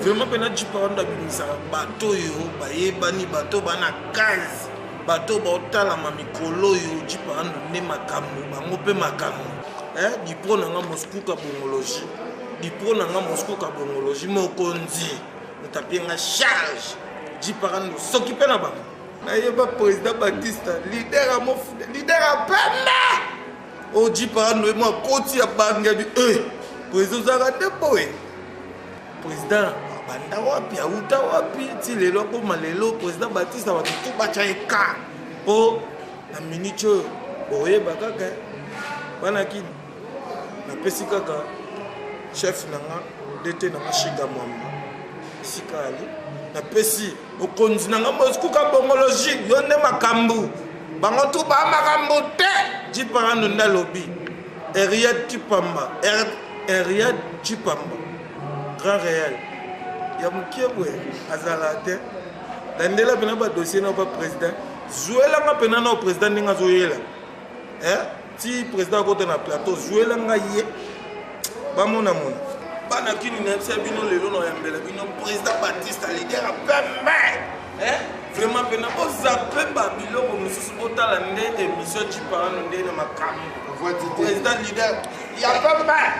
Vraiment pe na jipa wana babimisaka bato oyo bayebani bato oyo bana kazi bato oyo baotalama mikolo oyo jipa wana nde makambo bango mpe makambo eh, dipro na nga moscou kabongologie dipro na nga moscou kabongologie mokonzi moto apie nga charge jipa wana soki mpe na bango nayeba président batista lider ya mofuda lider ya pembe oyo jipa wana akoti ya bangi ya bi eh, président ozalaka nde boye president abanda wapi auta wapi ti lelo akoma lelo president batista bato tu batya ye ka mpo na minute oyo oyeba kaka wana kini napesi kaka chef na nga dete na nga shiga mwamba esika ali napesi bokonzi na nga mosikuka bongologi yo nde makambo bango tu ba makambo te jiparano nde alobi eriet kipamba Henriette Chipamba, Grand Real, ya mokie boye azala te landela mpena badossier nao ba président zwelanga mpena nao président ndenge azoyela eh? ti président akota na plateau zwelanga ye bamonamona bana kini na yebisa bino lelo na yambela bino président batiste leader ya pembe eh? vraiment mpena bozape babiloko mosusu botala nde émission ciparano nde na makambo président leader ya papa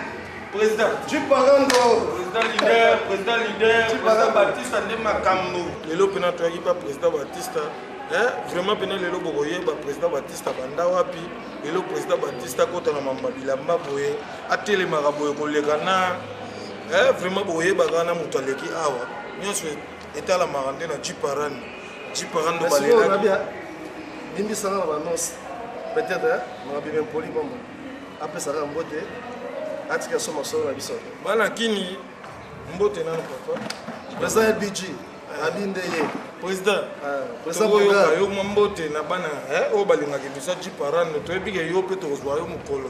président ciparando président leader président leader président batista nde makambo lelo mpena toyaki mpa président batista eh, vraiment mpena lelo bokoyeba président batista banda wapi lelo président batista akota na mamba bilamba boye atelemaka boye koleka na eh, vraiment bokoyebaka na moto aleki awa nyonso etalamaka nde na jiparani jiparani ndo balelaki bimbisanga na banonse peut-être na bibe mpoli bombo apesaka mbote atika so masolo na biso bana kini mbote nano papa eza ya bg abi nde ye président tokoyoka yo mwa mbote na bana oyo balingaka emission jiparane toyebi ke yo mpe tokozwa yo mokolo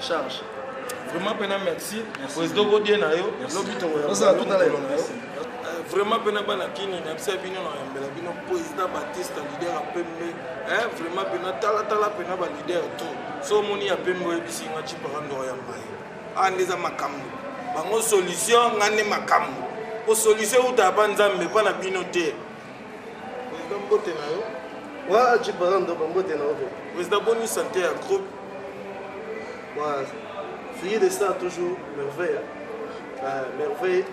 charge vraiment pena merci president godie na yo lobi tokoyaaotala yo vraiment mpe na bana kini nayebisa bino na yambela bino président batiste leader ya pembe eh, vraiment mpe na talatala mpe na balider to so omoni ya pembe oyebisi nga cipaka ndoko ya mai aa ah, nde eza makambo bango solution nga nde makambo po solution euta ya banzambe mpa na bino te President mbote na yo. Wa tu parles ndoka mbote na yo. President boni santé ya groupe. Wa fille de ça toujours merveille. Hein. Ah, merveille.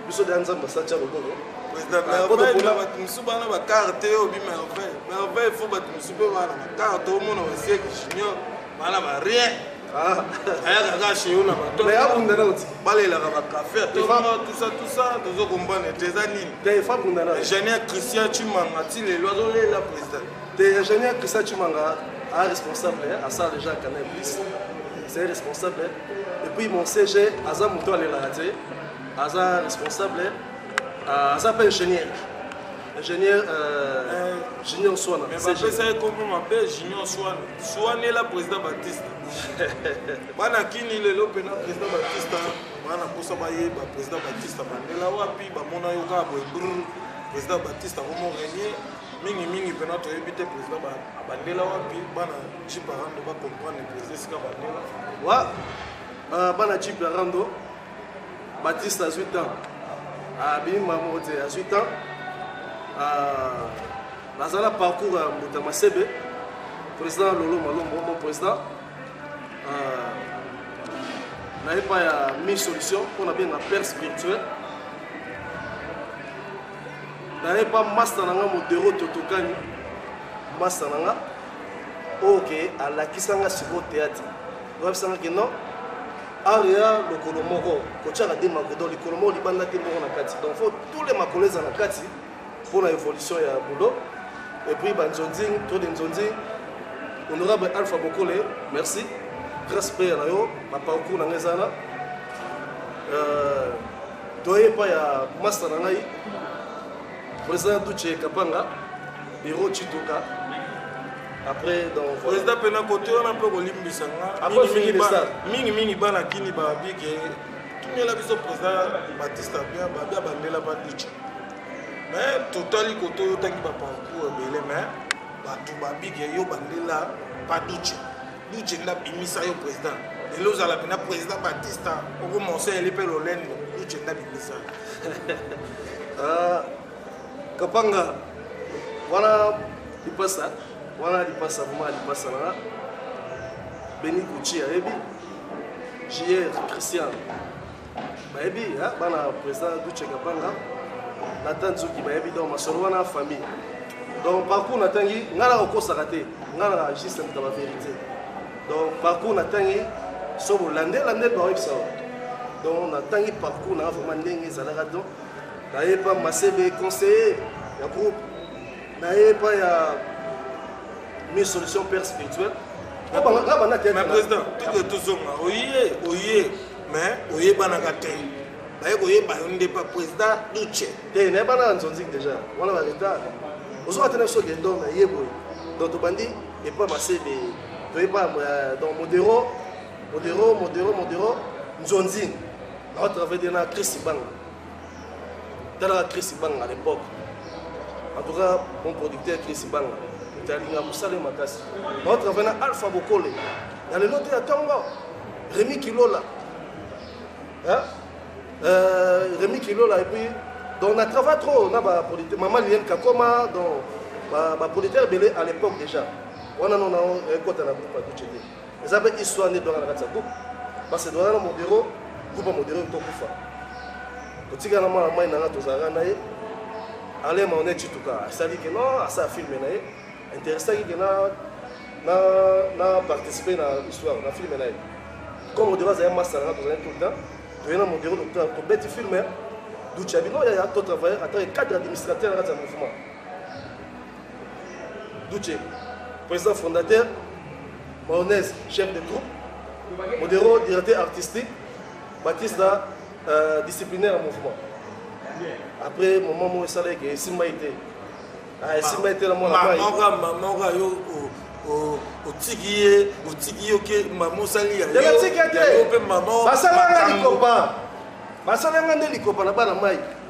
Biso da nzamba sa tcha loboko. President ah, merveille na bato mosusu bana bakarte oyo bi merveille. Merveille fo bato mosusu mpe bana bakarte omona basieki junior. bana ba rien ah. ayaka kaka chez yo na babalelaka bakafe atosatusa tozo kombane te eza nini ingénieur christian chimanga ti lelo azolela président te ingénieur christian chimanga a responsable asala déjà canal plus c'est responsable et puis mon cg aza moto alelaka te aza responsable aza mpe ingénieur ingénieur euh, junior swana mais bapesa ye kombo mabe junior swana swanela président batiste bana kini lelo mpena président batiste bana mposa bayeba président batiste bandela wapi bamona yo kaka boye br président batiste akomo renie mingimingi mpena toyebi te président abandela wapi bana jiparando bacomprendre président esika bandela wa euh, bana jiparando Baptiste azwi temps abimi mamo te azwi temps naza na parcours ya mbuta masebe président lolo malombo mon président na epa ya mi solution mpo na benga père spirituel na epa masta na nga modero totokani masta na nga oyo ke alakisa nga sikoyo théâtre oyebisa nga ke non art ya lokolo moko kotyaka te makolo donc likolo moko libanda te moko na kati donc faut tous les makolo eza na kati mpo na évolution ya boulot et puis banzonzing to de nzonzing honorable alpha bokole merci grâce mpe na yo baparcours na ngai eza na euh, toye epai ya masta na ngai President Duce Kapanga, Hiro Chituka, après donc président pena kote wana mpe kolimbisa nga mingi mingi bana kini babi ke tumela biso président batiste abia babi abandela baduce mais totali kote oyo otangi baparcours ebele mais bato babi ke yo bandela baduce Luce nda bimisa yo president lelo ozala pena president batista oko monseyeli mpe lolendo luce nda bimisa ah, kapanga wana lipasa wana lipasa vrema lipasa na beni kuci ayebi jr christian bayebi hein, bana président duce kabanga natan nzuki bayebi donc masolo wana famille donc parcours natangi ngai na kokosaka te ngai na juste moto ba vérité donc parcours natangi so bolande lande baoyebisa yo donc natangi parcours nanga vraiment ndenge ezalaka donc naye epa masebe conseiller ya groupe naye epa ya mi solution père spirituel na président toke tozonga oye oye mais oyebanaka te baye koyeba yo nde pa président duce te eh, nayebana na nzonzi déjà wana ba retard ozoka te na biso dendor na ye boye donc tobandi epa masebe toyeba euh, donc modero modero modero modero nzonzini naotravaille na christ banga talaka chris banga à l'époque en tout cas mon producteur chris banga talinga mosala makasi nao travaille na alpha bokole na lelo te ya ntongo remi kilola euh, remi kilola epuis donc na travaille trop na bapolitique mama liliane kakoma donc bapolitique ebele à l'époque déjà wana nona ekota na groupe aduce te eza mpe histoire nde edwaka na kati ya groupe parce que edwaka na modero groupe ya modero tokufa totikala na mwana mai na nga tozalaka na ye alain maone cituka asali ke non asala filme na ye interessaki ke na na na participer na histoire na filme na ye comme modero azali masta na nga tozali tout le temps toye na modero tobeti filme ducabi no yaya totravailleur atake cadre administrateur na kati ya mouvement Duce, président fondateur, Maonese, chef de troupe, Modero, directeur artistique, Batista, euh, disciplinaire en mouvement. Après, moment moi, ça l'a été, Simba était. Ah, Simba était la moi. Maman, maman, maman, yo, oh, otiki ye otiki ye oke mama osali yayope mama basalanga likopa basalanga nde likopa na bana mai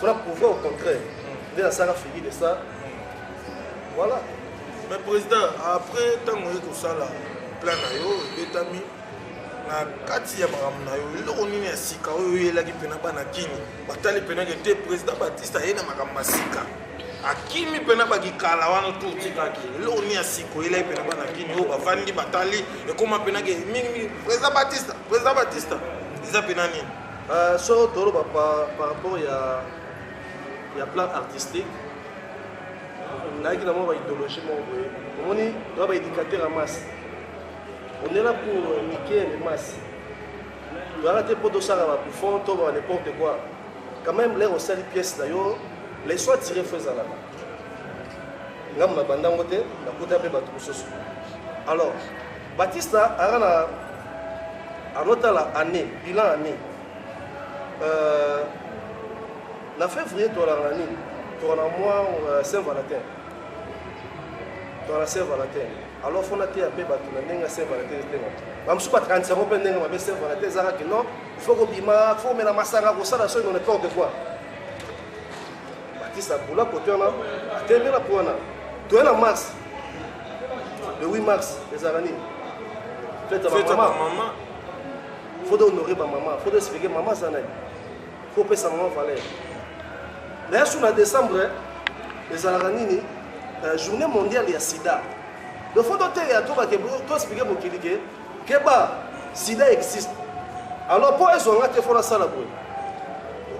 fona prouve au contraire nde nasaka figi de ça voilà mais président après ntango oye kosala plan na yo ebetami na kati ya makambo na yo eloko nini ya sika oyo oyelaki mpena bana kini batali mpena ke te président batiste aye na makambo ya sika akimi mpena bakikala wana tu otikaki eloko nini ya sika oyelaki mpena bana kini oyo bafandi batali ekoma mpena ke mingimingi président batiste président batiste eza mpena nini Uh, so toloba par, par rapport ya, ya plan artistique nayaki na mwa baidéologie moko boye omoni toya baéducateur ya masse onela pour euh, mikiele masse toyaka te mpo tosala babuffon to ba n'importe quoi quand même lere osali pièce na yo leso atire fo ezalaka ngambo na bandango te nakuta mpe bato mosusu alors Batista anga na anotala année bilan année euh, na février tolanga nini tokana mwa euh, saint valentin tokana saint valentin alors fo nateya mpe bato na ndenge ya saint valentin etenga bamosusu bakanisa yango mpe ndenge mabe saint valentin ezaka ke non fo kobima fo komela masanga kosala soki none porte quoi Batiste abola kote wana atembe na pwana toye na mars le 8 mars ezalaka nini fete ya bamama faut honore bamama faut expliquer mama aza nani faut opesa mama valeur na yasu na décembre eh, ezalaka nini euh, journée mondiale ya sida donc faut toteya tobake toexplike mokili ke keba sida existe alors mpo ezwa nga te fo nasala boye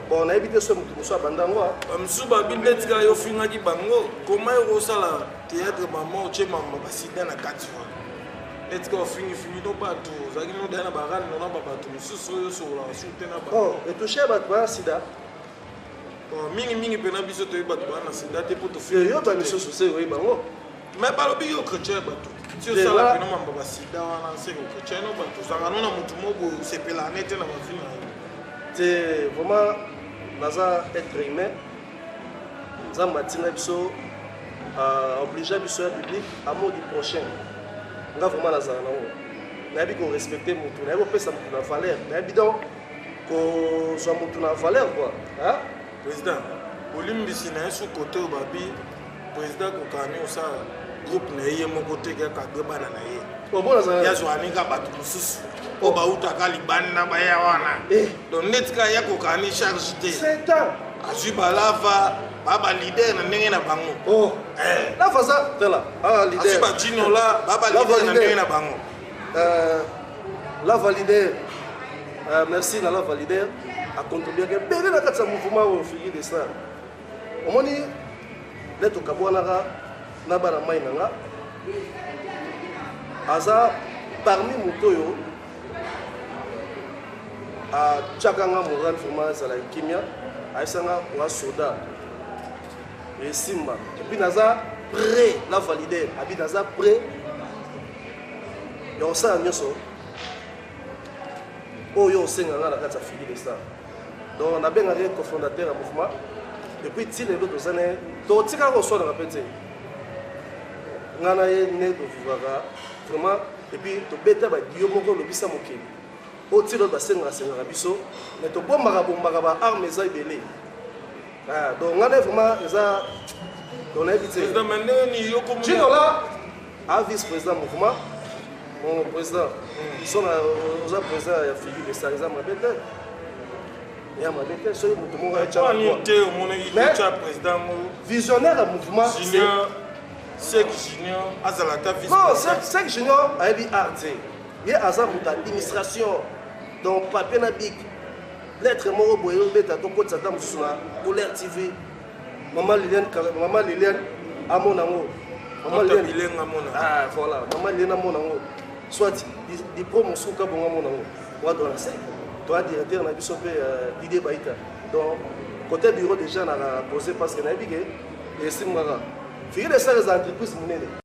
bon nayebi te so moto mosusu abanda yango bamosusu babi nde tika yo ofingaki bango koma yo kosala théâtre mama otie mama basida na kati wana etika ofingifingi no bato ozalaki nodaya na barani nona babato mosusu oyo osololaka su te na bato etouche bato baya sida mingi mingi mpena biso toyebi bato bana na sida te mpo toyoka lisusu se oyebi bango me balobi yo chrétien bato ti osala mpena mambo basida wana nseke chrétien no bato ozanga no na motu moko osepela ne te na bavi na yo te vraiment naza être humain nzambe atinda biso euh, obligea biso ya public amour du prochain nga vraiment nazala nango nayebi korespecte motu nayebi kopesa motu na valeur nayebi donc kozwa motu na valeur kua président bolimbisi na ye su kote oyo babi président kokani osala groupe na ye ye moko te kakadwe bana na ye yazwanika bato mosusu mpo oh. bautaka libanda baya wana eh. donc neti ka ya kokani charge te azwi balava baba leader na ndenge na bango oh. eh. lava aza tala ah, azwi bajinola baba leader na ndenge na bango Euh, la valider euh, merci na la valider acontribuaka ebele na kati ya mouvement oyo figi de star omoni nde tokabwanaka na bana mai na nga aza parmi moto oyo atyaka nga moral vraiment ezala kimia ayesanga wa soda esimba epuis naza prêt na valider abi naza prêt ya kosala nyonso oyo osenga ngai na kati ya fili de star donc nabengaka ye cofondateur ya mouvement epuis ti lelo toza na ye totikaka koswanaka mpe te ngai na ye nde tovivaka vraiment epuis tobeta badio moko olobisa mokili oyo ti lelo basengaka sengaka biso mais tobombaka bombaka baarme eza ebele Ah, donc nga nde vraiment eza donc nayebi te jino la a vice président mouvement mon président biso na oza président ya figure de ça eza mabe te ya mabe te soki moto moko visionnaire ya mouvement sek junior azala ata non sek junior ayebi art te ye aza moto administration donc papier na bik Lettre moko boye yo beta to kotisa ta mususu na Colère TV. Maman Liliane Maman Liliane amona ngo. Maman Liliane Liliane amona. Ah voilà, Maman Liliane amona ngo. Soit di pro musuka bonga amona ngo. Wa dona se. Toi directeur na biso pe euh, Didier Baita. Donc côté bureau déjà na poser parce que na bique et simara. Figure ça les entreprises munene.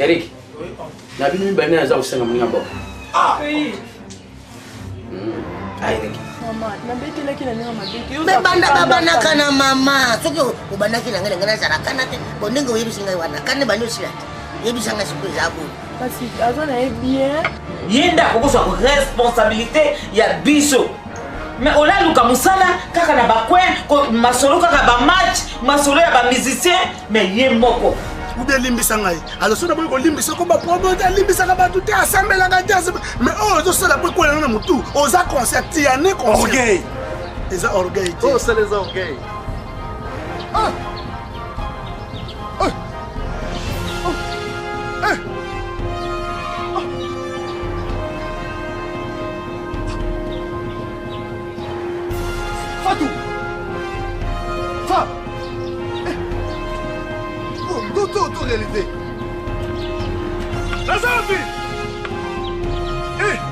Eric, na bino mibale nani aza kosenga moninga boko? Ah! banda babanaka na mama soki obandaki na ngai na ngai nazala kana te bo ndenge oyebisi ngai wana kana ebandi osila te yebisa ngai sikoyo eza boye kasi aza na ye bien ye nde akokosa responsabilité ya biso mais ola luka musala kaka na bacoin masolo kaka bamatch masolo ya bamusicien mais ye moko ube elimbisa ngai alors soki naboyi kolimbisa ko bapromote alimbisaka bato te asambelaka te mais oyo oh, ozosala po ekwelana na motu oza concert tiane concert eza orgueil te osala oh, eza orgueil ah! Fatou Fa eh. Oh, tout, tout, tout réalité La Zambie eh.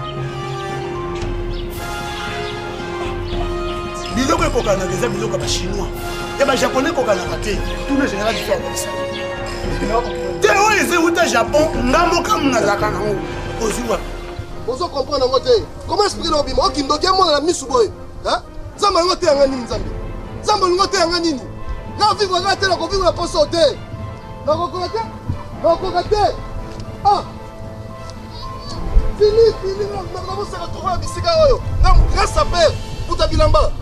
biloko ekokanaka eza biloko ya bachinois ya bajaponais ekokanaka te tuna général biso akolisa te oyo eza euta japon nga mokamu nazalaka nango ozwi wapi Ozo comprendre yango te. Comment expliquer na obima? Oki ndoki amona na misu boye. Hein? Nzambe alingo te yanga nini Nzambe? Nzambe alingo te yanga nini? Na vivre nga te na ko vivre na poso te. Na ko koka te. Na ko koka te. Ah! Fini, fini, na ko ko se retrouver bisika oyo. Na grâce à père, puta bilamba.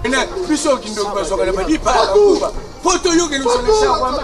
Ena biso kindoki bazokana badi pa kuba. Poto yo kenu sona sa kwamba.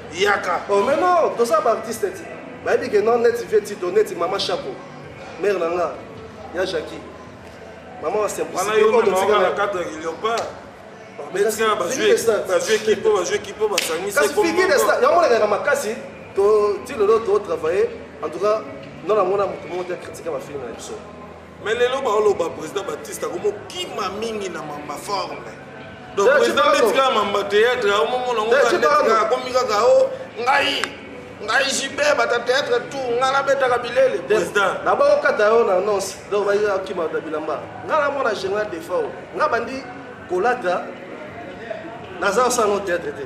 yaka oh mais non toza ba artiste ti bayebi ke non neti vie ti to neti mama chapeau mère na nga ya Jackie mama wa simplicité oyo totika na cadre ya Leopard betika bazwi bazwi ekipe oyo bazwi ekipe oyo basangisi kasi figure de star yango olekaka makasi to ti lelo to travailler en tout cas nona mona moto moko te akritika bafilme na biso mais lelo baoloba président batiste akomokima mingi na mamba forme donc président beti kaka mamba théâtre aomomona ngo kaka akomi kaka o oh, ngai ngai jibe bata théâtre tout ngai nabetaka bilele président na baokata yo na annonce donc bayakima na bilamba ngai namona général defao ngai bandi kolata naza osala no théâtre te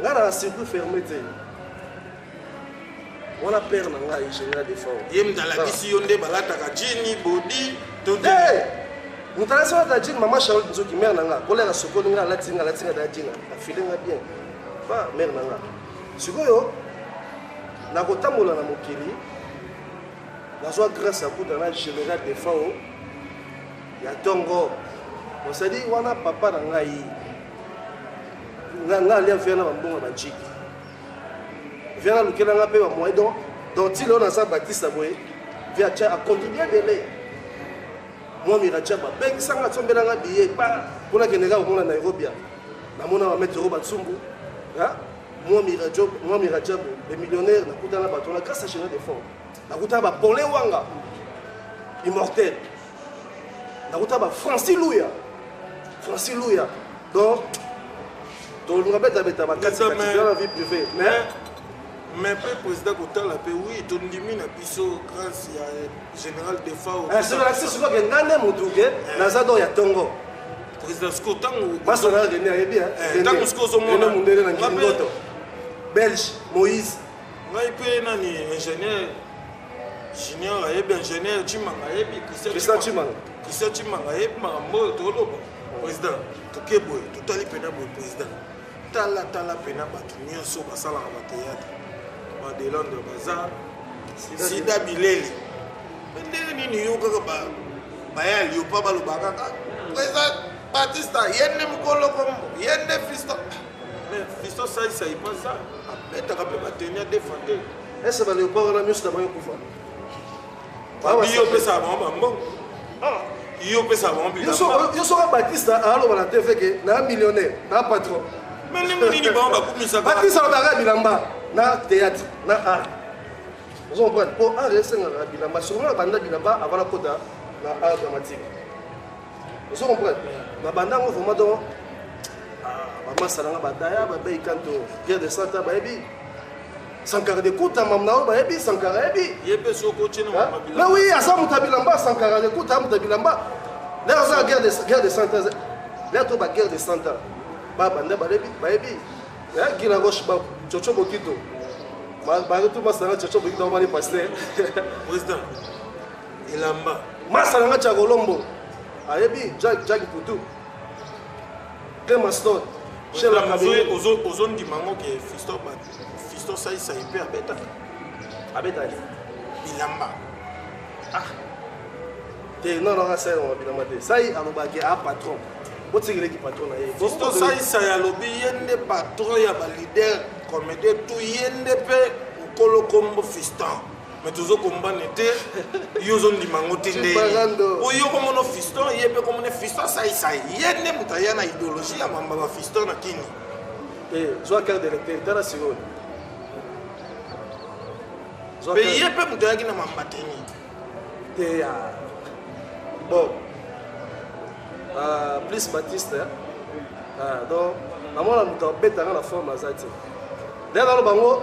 nga na circuit ferme te wana père na ngai général de fort ye moto alakisi yo nde balataka jini bodi to te moto alakisi alata jini mama charlotte nzoki mare na nga kolera sokoli nga alati nga alati nga da jina afile nga bien ba mare na nga sikoyo nakotambola na mokili nazwa grâce ya kuta na général de fao ya tongo osadi wana papa na ngai nga nga alia viana ba mbongo ba jiki viana lukela nga pe ba moyen donc donc ti leo naza batista boye via cha akontribue ebele mwa miracha babengisa nga tsombela nga biye pa mpona kende kaka komona nairobi ya namona bametre oyo batsumbu mwa miracha mwa miracha bo le millionnaire nakutana bato na grâce à général de fort nakutana bapole wanga immortel nakota ba franci luya franci luya donc toluka betabeta bakatiaa vie privée mais mais mpe président kotala mpe oui tondimi na biso grâce ya général defao eh, soki soki ngai nde motu ke eh. naza do ya ntongo président siko ntango basonaa rene ayebi ntango eh, siko ozomona mondele na nkingoto belge moïse ngai mpe nani ingénieur junior ayebi ingénieur cimanga ayebi christian cimanga christian cimanga ayebi makambo oyo toloba président toke boye totali mpena boye président talatala mpena bato nyonso basalaka bateatre badelondre baza sida bileli ndenge nini yo kaka baya liopa balobaka kaka ah, président batista ye nde mokolo kombo ye nde fiston Mais Fiston Sai Sai pas ça. Abetaka pe bateni à défendre. Est-ce que ba leopard wana nyonso na bango ekufa? Babi yo pesa bango bambongo. Ah. Yo pesa bango bilamba. Yo soka Batista aloba na TV ke na millionnaire, na patron. Mais ndenge nini bango bakumisaka? Batista alobaka bilamba na théâtre, na art. Vous comprenez? Pour art esengaka bilamba, songolo banda bilamba avant la kota na art dramatique. ozo comprendre na banda ngo vraiment donc ah, bamasala nga badaya babeyi kanto pierre de santa bayebi sankara de kuta mam na oyo bayebi sankara yebi me wi aza moto ya bilamba sankara de kuta moto ya bilamba lere aza guerre de santa lere to baguerre de santa babanda bayebi gila roche ba coco bokito baretu masanga coco bokito bamani paster elamba masa na nga chakolombo ayebi jack jack putu kemaston ozondima yango ke fisto saisai mpe abetaka abetaki bilamba ah. te non non asai yango bilamba te sai alobaki a ah, patron botikeleki patron na ye fisto saisai alobi ye nde patron ya balider comédien to ye nde mpe mokolo kombo fiston me tozo kombane te yo ozondima yango te nde po yo komono fiston ye mpe komone fiston asaisai ye nde moto aya na idéologie ya mamba ba fiston na kini eh, zwa carte d'électeur tala sikoyo mpe ye mpe moto ayaki na mamba te nini te ya ah. bon ah, plus batiste ah, donc namona moto abetanga na forme aza te nde naloba yango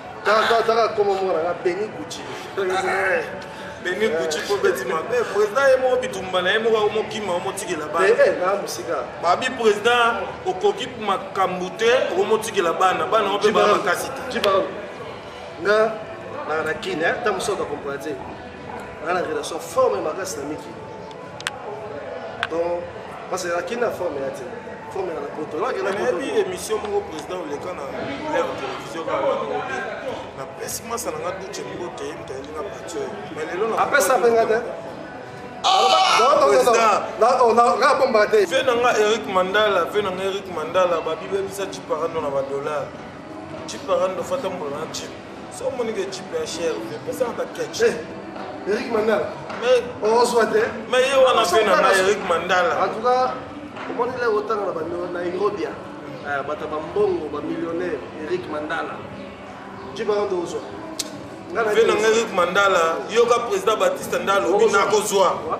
Kaka taka koma mwana nga Beni Gucci. Beni Gucci po beti ma. Eh président ye mo bitumba na ye mo ka mo kima mo tikela ba. Eh eh na musika. Ba bi président okoki makambu te ko mo tikela bana bana ope ba makasi te. Jiba. Nga na na kin eh ta musoka comprendre. Na na relation forme makasi na miki. donc parce que akenda forme ya te forme ya poto nayebi émission moko président oleka na lève télévision kaobi napesi masa na nga duce moko te mtayeli na bateur mais lelo apesa mpe nga te nabombaka te ve na nga eric mandala ve na nga eric mandala babibebisa ciparando na badollar ciparando fata mbola na cipe So moni ke chip ya cher, pesa na ketch. Eh, Eric Mandala. Mais on soit te. Mais yo wana pe na Eric Mandala. En tout cas, omoni le otanga na bando na Nairobi. Ah. Eh, bata ba mbongo, ba millionnaire Eric Mandala. Jiba ndo ozo. Ngana Eric Mandala, yoka president Batista Ndalo, bina kozwa.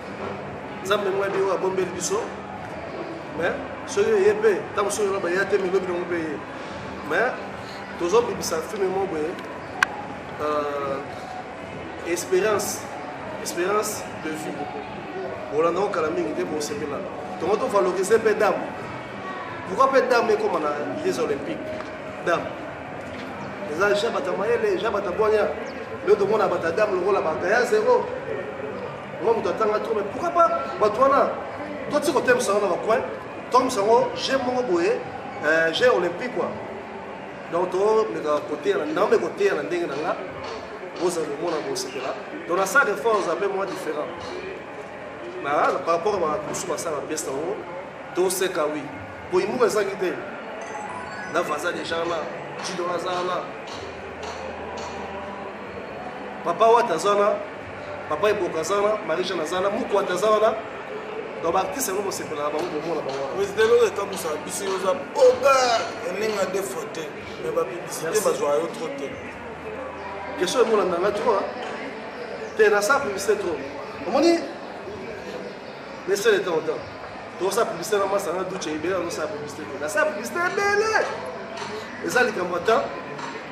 nzambe mwa biyo abombeli biso mais soki eye mpe ntango soki loba ya te milobi nango mpe ye mais tozobibisa filme moko boye euh, espérance espérance de vie bolandako kala mingi te bosepela tongo tovalorize mpe dame pourkoi mpe dame ekoma na les olympique dame eza jabata mayele jabata bwanya nde tomona bata dame lokola bata ya zero Vraiment moto atanga trop mais pourquoi pas bato wana to ti kotemisa yango na bacoin tokomisa yango jeu moko boye euh, jeu olympique kua donc tomeka koteyana ndambe koteyana ndenge na nga bozala komona kosepela donc na salle de force ape mwa différent na par rapport a mosusu basala bapesa yango toseka wi po imuka ezangi te na vaza deja na jido aza na papa wata aza na papa eboka aza wana marie jeanne aza wana mokwata aza wana donc baartiste yango bosepela na bango bomona bango président eloko ekamusa biso yo oza oga eninga de faute mais bapiblisité bazwa yo trop te question emonana nga trop te nasala publicité trop omoni lesele temps en temps tokosala publicité na masanga duce ebele azosala publicité te nasala publicité ebele eza likambo ya temps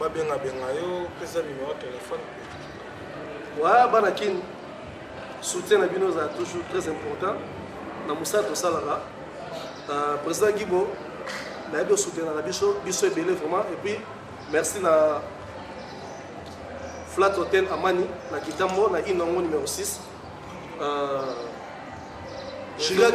babenga benga yo pesa numéro téléphone wa bana kin soutien na bino eza toujours très important na mosala tosalaka euh, président gibo nayebi osoutenaka biso biso ebele vraiment et puis merci na flat hotel amani na kitambo na inongo numéro 6 euh, Juliette,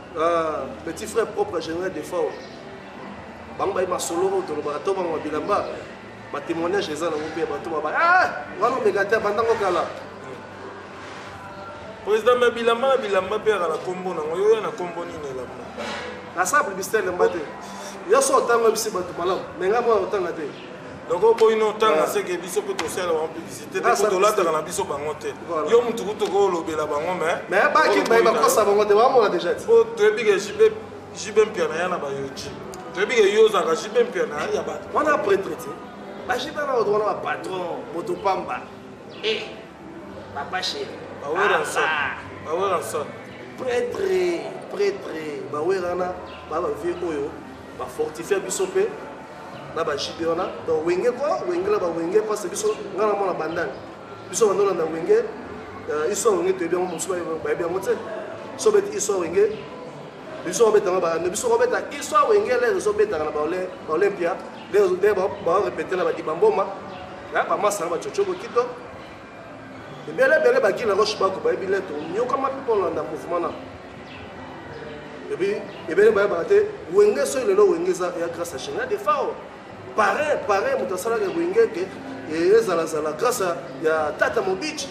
Ah, petit frère propre général de fort bango baye masolo oyo tolobaka to bango bilamba batémoignage eza nango mpe bato baba ah, wana omeka te bandango kala président me bilamba na bilamba mpe yaka na nkombo nango yo ya na nkombo nini elamba nasala publicité elamba te yo so otanga bisi bato malamu me ngai mwana otanga te donc oboyi no otanga seke biso mpe tosala bango publicité te mpo tolataka na biso bango te yo motu kutu okolobela bango mais baki baye bakosa bango te bamona déjà ti mpo toyebi ke jb mpiana ya na bayoji toyebi ke yo ozalaka jb mpiana ya bato wana pretre te bajb na bato wana bapatron moto pamba e papa chéri baweranson pretre pretre bawerana baba vie oyo ba fortifia biso mpe na ba JB wana donc wenge kwa wenge na ba wenge parce que biso nga na mwana bandani biso banda olanda wenge euh, histoire wenge toyebi yango mosusu bayebi yango te so beti histoire wenge biso babetanga bande biso babeta histoire wenge lere ezobetaka na baolympia lere baorepete na badibamboma bamasa na bacocobo kito ebele ebele bagina roche bako bayebi leto nyokama mpe kolanda mouvement na ebi ebele bayebaka te wenge soki lelo wenge eza ya grâce ya chena defao pareil pareil moto asalaka ya wenge ete ezalazala grâce ya tata mobici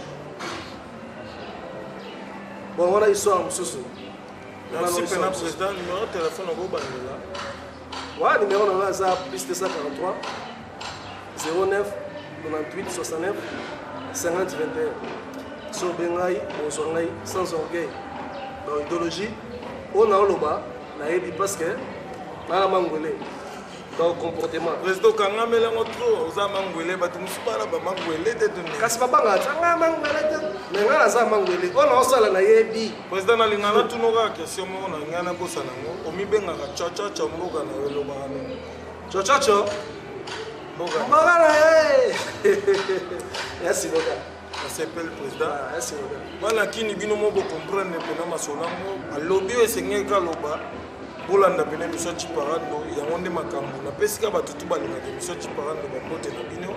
bon wana histoire mosusu merci pena président numéro telefone okobandela Wa numéro na nga aza plus 243 09 98 69 50 21 so obe ngai ozwa ngai sans orgueil ba idéologie oyo naoloba nayebi parce que nana mangwele donc comportement président okangameli yango trop oza mangwele bato mosusu bana bamangwele te kasi babangaka nanga mangwele te me ngai naza mangwele oyo naosala nayebi President na linga na tuno kaka question moko na linga na bosa na ngo omibengaka chachacha mboka na yo lobaka na ngo chachacha mboka mboka na ye merci boka nasepeli président ah, merci boka bana kini bino mo bo comprendre pena masolo yango alobi oyo esengeli kaloba bolanda pena emission ciparando yango nde makambo napesika bato tu balingaka emission ciparando bambote na bino